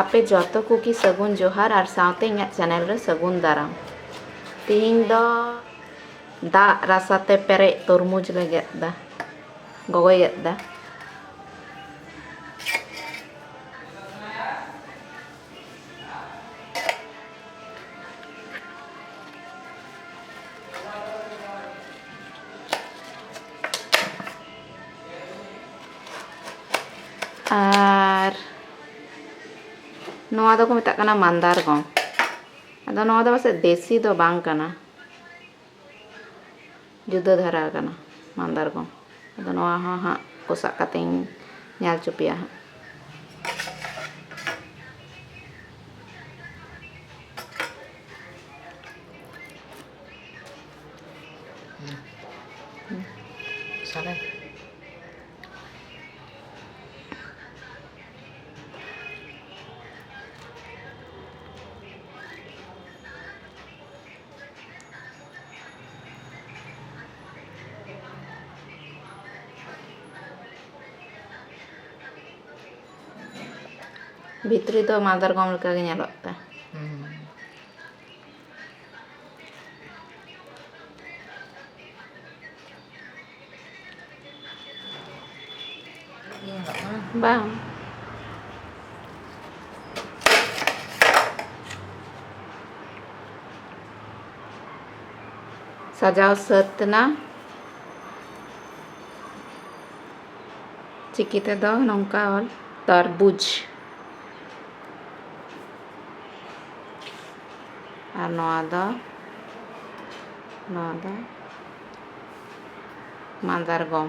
ᱟᱯᱮ ᱡᱚᱛᱚ ᱠᱚᱜᱮ ᱥᱟᱹᱜᱩᱱ ᱡᱚᱦᱟᱨ ᱟᱨ ᱥᱟᱶᱛᱮ ᱤᱧᱟᱹᱜ ᱪᱮᱱᱮᱞ ᱨᱮ ᱥᱟᱹᱜᱩᱱ ᱫᱟᱨᱟᱢ ᱛᱮᱦᱮᱧ ᱫᱚ ᱫᱟᱜ ᱨᱟᱥᱟ ᱛᱮ ᱯᱮᱨᱮᱡ ᱛᱚᱨᱢᱩᱡᱽ ᱞᱮ ᱜᱮᱫ ᱮᱫᱟ ᱜᱚᱜᱚᱭ ᱜᱮᱫ ᱮᱫᱟ ᱟᱨ ᱱᱚᱣᱟ ᱫᱚᱠᱚ ᱢᱮᱛᱟᱜ ᱠᱟᱱᱟ ᱢᱟᱱᱫᱟᱨ ᱜᱚᱢ ᱟᱫᱚ ᱱᱚᱣᱟ ᱫᱚ ᱯᱟᱥᱮᱡ ᱫᱮᱥᱤ ᱫᱚ ᱵᱟᱝ ᱠᱟᱱᱟ ᱡᱩᱫᱟᱹ ᱫᱷᱟᱨᱟ ᱠᱟᱱᱟ ᱢᱟᱱᱫᱟᱨ ᱜᱚᱢ ᱟᱫᱚ ᱱᱚᱣᱟ ᱦᱚᱸ ᱦᱟᱸᱜ ᱠᱚᱥᱟᱜ ᱠᱟᱛᱮᱧ ᱧᱮᱞ ᱦᱚᱪᱚ ᱯᱮᱭᱟ ᱦᱟᱸᱜ ᱵᱷᱤᱛᱨᱤ ᱫᱚ ᱢᱟᱫᱟᱨᱜᱚᱢ ᱞᱮᱠᱟᱜᱮ ᱧᱮᱞᱚᱜ ᱛᱮ ᱵᱟᱝ ᱥᱟᱡᱟᱣ ᱥᱟᱹᱛ ᱮᱱᱟ ᱪᱤᱠᱤ ᱛᱮᱫᱚ ᱱᱚᱝᱠᱟ ᱚᱞ ᱛᱟᱨᱵᱩᱡᱽ ᱟᱨ ᱱᱚᱣᱟ ᱫᱚ ᱱᱚᱣᱟ ᱫᱚ ᱢᱟᱫᱟᱨ ᱜᱚᱢ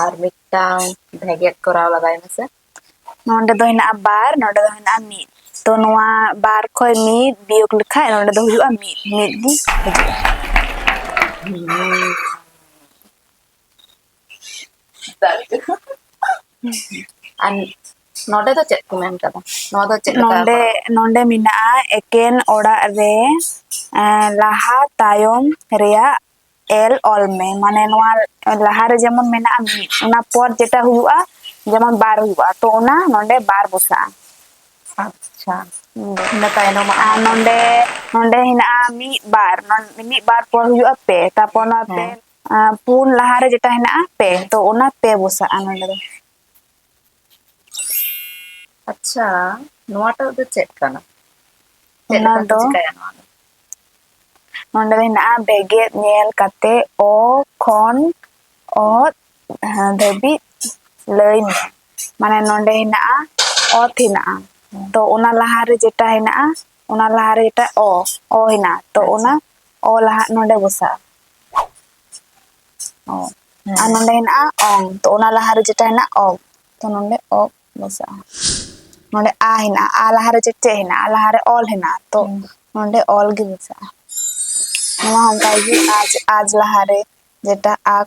ᱟᱨ ᱢᱤᱫᱴᱟᱝ ᱵᱷᱮᱜᱮᱫ ᱠᱚᱨᱟᱣ ᱞᱟᱜᱟᱭ ᱢᱮᱥᱮ ᱱᱚᱰᱮ ᱫᱚ ᱦᱮᱱᱟᱜᱼᱟ ᱵᱟᱨ ᱱᱚᱰᱮ ᱫᱚ ᱦᱮᱱᱟᱜᱼᱟ ᱢᱤᱫ ᱛᱚ ᱱᱚᱣᱟ ᱵᱟᱨ ᱠᱷᱚᱡ ᱢᱤᱫ ᱵᱤᱭᱳᱜᱽ ᱞᱮᱠᱷᱟᱡ ᱱᱚᱰᱮ ᱫᱚ ᱦᱩᱭᱩᱜᱼᱟ ᱢᱤᱫ ᱢᱤᱫ ᱜᱮ ᱦᱤᱡᱩᱜᱼᱟ ᱟᱨ ᱱᱚᱰᱮ ᱫᱚ ᱪᱮᱫ ᱠᱚ ᱢᱮᱱ ᱠᱟᱫᱟ ᱱᱚᱣᱟ ᱫᱚ ᱪᱮᱫ ᱱᱚᱰᱮ ᱱᱚᱰᱮ ᱢᱮᱱᱟᱜᱼᱟ ᱮᱠᱮᱱ ᱚᱲᱟᱜ ᱨᱮ ᱞᱟᱦᱟ ᱛᱟᱭᱚᱢ ᱨᱮᱭᱟᱜ ᱮᱞ ᱚᱞ ᱢᱮ ᱢᱟᱱᱮ ᱱᱚᱣᱟ ᱞᱟᱦᱟ ᱨᱮ ᱡᱮᱢᱚᱱ ᱢᱮᱱᱟᱜᱼᱟ ᱢᱤᱫ ᱚᱱᱟ ᱯᱚᱨ ᱡᱮᱴᱟ ᱦᱩᱭᱩᱜᱼᱟ ᱡᱮᱢᱚᱱ ᱵᱟᱨ ᱦᱩᱭᱩᱜᱼᱟ ᱛᱚ ᱚᱱᱟ ᱱᱚᱰᱮ ᱵᱟᱨ ᱵᱚᱥᱟᱜᱼᱟ ᱟᱪᱪᱷᱟ ᱤᱱᱟᱹ ᱛᱟᱭᱱᱚᱢ ᱟᱨ ᱱᱚᱰᱮ ᱱᱚᱰᱮ ᱦᱮᱱᱟᱜᱼᱟ ᱢᱤᱫ ᱵᱟᱨ ᱢᱤᱫ ᱵᱟᱨ ᱯᱚᱨ ᱦᱩᱭᱩᱜᱼᱟ ᱯᱮ ᱛᱟᱨᱯᱚᱨ ᱱᱚᱣᱟ ᱯᱮ ᱯᱩᱱ ᱞᱟᱦᱟᱨᱮ ᱡᱮᱴᱟ ᱦᱮᱱᱟᱜᱼᱟ ᱯᱮ ᱛᱚ ᱚᱱᱟ ᱯᱮ ᱵᱚᱥᱟᱜᱼᱟ ᱱᱚᱰᱮ ᱫᱚ ᱟᱪᱪᱷᱟ ᱱᱚᱣᱟᱴᱟᱜ ᱫᱚ ᱪᱮᱫ ᱠᱟᱱᱟ ᱪᱮᱫ ᱞᱮᱠᱟ ᱠᱚ ᱪᱤᱠᱟᱭᱟ ᱱᱚᱣᱟ ᱫᱚ ᱱᱚᱰᱮ ᱦᱮᱱᱟᱜᱼᱟ ᱵᱮᱜᱮᱫ ᱧᱮᱞ ᱠᱟᱛᱮ ᱚ ᱠᱷᱚᱱ ᱚᱛ ᱫᱷᱟᱹᱵᱤᱡ ᱞᱟᱹᱭ ᱢᱮ ᱢᱟᱱᱮ ᱱᱚᱰᱮ ᱦᱮᱱᱟᱜᱼᱟ ᱚᱛ ᱦᱮᱱᱟᱜᱼᱟ ᱛᱚ ᱚᱱᱟ ᱞᱟᱦᱟᱨᱮ ᱡᱮᱴᱟ ᱦᱮᱱᱟᱜᱼᱟ ᱚᱱᱟ ᱞᱟᱦᱟᱨᱮ ᱡᱮᱴᱟ ᱚ ᱚ ᱦᱮᱱᱟᱜᱼᱟ ᱛᱚ ᱚᱱᱟ ᱚ ᱞᱟᱦᱟ ᱱᱚᱰᱮ ᱵᱚᱥᱟᱜᱼᱟ ᱚ ᱦᱮᱸ ᱟᱨ ᱱᱚᱰᱮ ᱦᱮᱱᱟᱜᱼᱟ ᱚᱝ ᱛᱚ ᱚᱱᱟ ᱞᱟᱦᱟᱨᱮ ᱡᱮᱴᱟ ᱦᱮᱱᱟᱜ ᱚᱜ ᱛᱚ ᱱᱚᱰᱮ ᱚᱜ ᱢᱮᱥᱟᱜᱼᱟ ᱱᱚᱰᱮ ᱟ ᱦᱮᱱᱟᱜᱼᱟ ᱟ ᱞᱟᱦᱟᱨᱮ ᱪᱮᱫ ᱪᱮᱫ ᱦᱮᱱᱟᱜᱼᱟ ᱟ ᱞᱟᱦᱟᱨᱮ ᱚᱞ ᱦᱮᱱᱟᱜᱼᱟ ᱛᱚ ᱦᱮᱸ ᱱᱚᱰᱮ ᱚᱞ ᱜᱮ ᱢᱮᱥᱟᱜᱼᱟ ᱱᱚᱣᱟ ᱦᱚᱸ ᱚᱱᱠᱟ ᱜᱮ ᱟᱡ ᱟᱡ ᱞᱟᱦᱟᱨᱮ ᱡᱮᱴᱟ ᱟᱠ